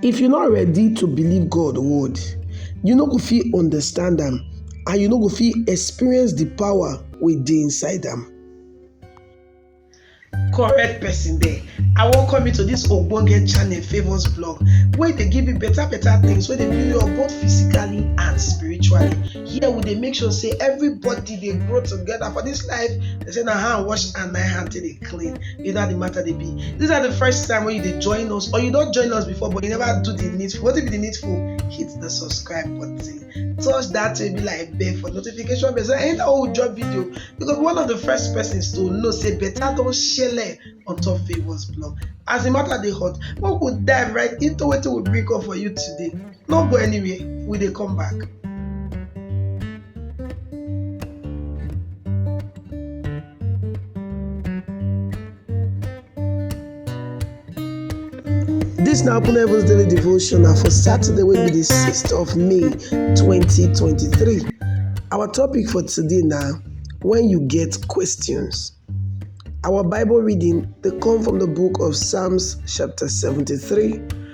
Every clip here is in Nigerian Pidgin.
If you no ready to believe God word, you no go fit understand am and you no go fit experience the power wey dey inside am. correct person there i welcome you to this ogbonge channel favours blog wey dey give you better better things wey dey build you up both physically and spiritually here we dey make sure say everybody dey grow together for this life they say na hand wash and na hand take dey clean you know how the matter they be these are the first time when you dey join us or you don't join us before but you never do the needful wetin be the needful hit the subscribe button touch that will be like bell for notification bell so anytime we drop video you go be one of the first persons to know say better don shele on top favours blog as the matter they hot we go dive right into what we bring up for you today no go anywhere we they come back. Dis na Open Heavens Daily Devotion na for Saturday wey be di 6th of May 2023. Our topic for today na When You Get Questions. Our Bible reading dey come from the book of Psalms chapter 73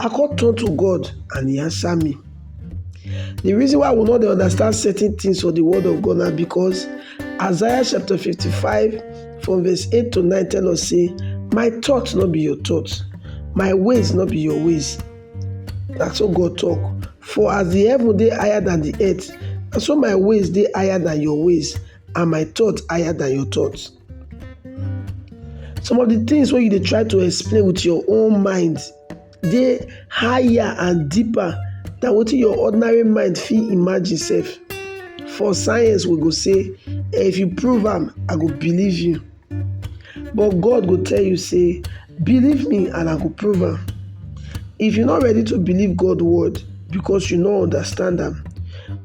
I come turn to God and he answer me. The reason why we no dey understand certain things for the word of God na because Isaiah chapter 55 from verse 8 to 9 tell us say, My thoughts no be your thoughts, my ways no be your ways. Na so God talk. For as the heaven dey higher than the earth, na so my ways dey higher than your ways, and my thoughts higher than your thoughts. some of the things wey you dey try to explain with your own mind dey higher and deeper than wetin your ordinary mind fit imagine sef for science we go say eh, if you prove am i go believe you but god go tell you say believe me and i go prove am if you no ready to believe god word because you no understand am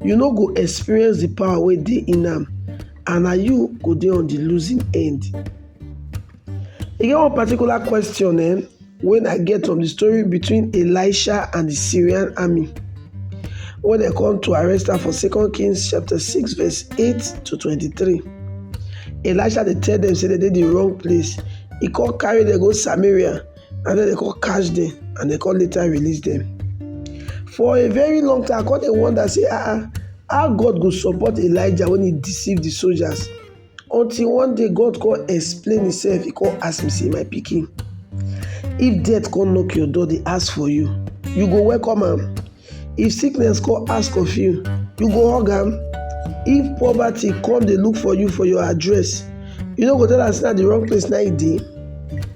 you no go experience the power wey dey in am and na you go dey on the losing end. E get one particular question eh, wey I get from the story between Elisha and the Syrian army when dem come to arrest am for Second Kings chapter six verse eight to twenty-three. Elisha dey tell dem say dem dey the wrong place. E come carry dem go Samaria and then dem come catch them, and dem come later release them. for a very long time i come dey wonder say ah ah how god go support elijah when he deceive the soldiers until one day god come explain himself he come ask me say my pikin if death come knock your door dey ask for you you go welcome am if sickness come ask of you you go hug am if poverty come dey look for you for your address you no go tell am say na the wrong place na e dey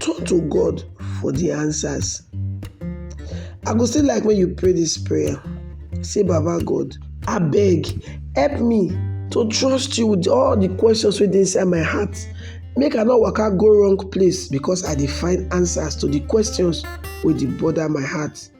Turn to God for the answers. I go still like when you pray this prayer. Say, Baba God, I beg, help me to trust you with all the questions within inside my heart. Make I not work out go wrong place because I define answers to the questions with the bother my heart.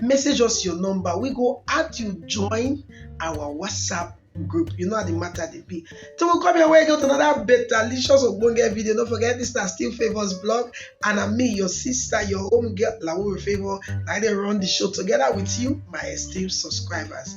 message us your number we go add you join our whatsapp group you know how the matter dey be till we come your way get another better licious ogbonge video no forget this na still favours blog and na me your sister your home girl lawo favour na i dey run the show together with you my esteemed subscribers